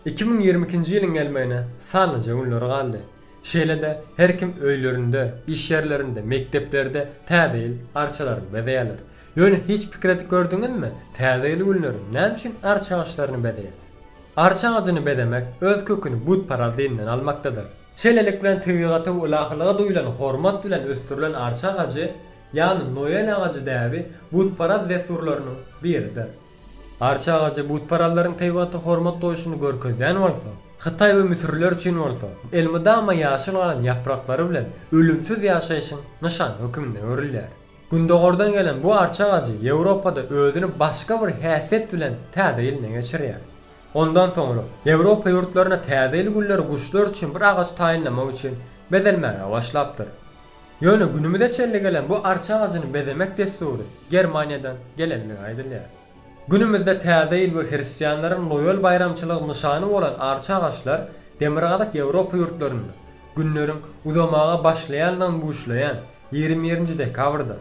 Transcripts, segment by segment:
Iki müň ýigrimi ikinji ýylyň gelmegine sanlyja günler galdy. Şeýle-de her kim öýlerinde, iş ýerlerinde, mekdeplerde Täze ýyl arçalaryny bezeýärler. Ýöne hiç pikir edip gördüňizmi, Täze ýyl günleri näme üçin arça agaçlaryny bezeýäris? Arça agajyny bezemek öz köküni butparaz dinden almakdadyr. Şeýlelik bilen tebigata we ylahylyga duýulan hormat bilen ösdürilen arça agajy, ýagny Noel agajy däbi butparaz dessurlarynyň biridir. Arça agajy butparazlaryň Teýwata hormat goýşuny görkezýän bolsa, Hytaý we müsürliler üçin bolsa, elmydama ýaşyl galan ýapraklary bilen ölümsiz ýaşaýşyň nyşany hökmünde görülýär. Gündogardan gelen bu arça agajy Ýewropada özüni başga bir häsiýet bilen Täze ýylyna geçirýär. Ondan soňra, Ýewropa ýurtlarynda Täze ýyl günleri guşlar üçin bir agaç taýynlamak üçin bezelmäge başlapdyr. Ýöne günümize çenli gelen bu arça agajyny bezemek dessury Germaniýadan gelenligi aýdylýar. Günümizde Täze ýyl we hristianlaryň Noel baýramçylygy nyşany bolan arça agaçlar Demirgazyk Ýewropa ýurtlarynda, günleriň uzamaga başlaýandygyny buşlaýan ýigrimi birinji dekabrda,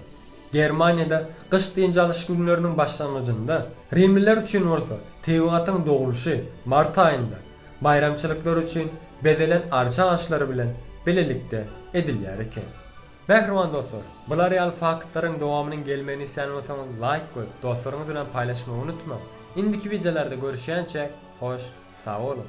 Germaniýada gyş dynç alyş günleriniň başlangyjynda, rimliler üçin bolsa, tebigatyň dogulyşy, mart aýynda, Baýramçylyklar üçin bezelen arça aşlary bilen bilelikde edilýär eken. Mähriban dostlar, bular ýaly faktlaryň dowamynyň gelmegini islän bolsaňyz laýk goýup, dostlaryňyz bilen paýlaşmagy unutmaň. Indiki wideolarda görüşýänçä, hoş sag boluň!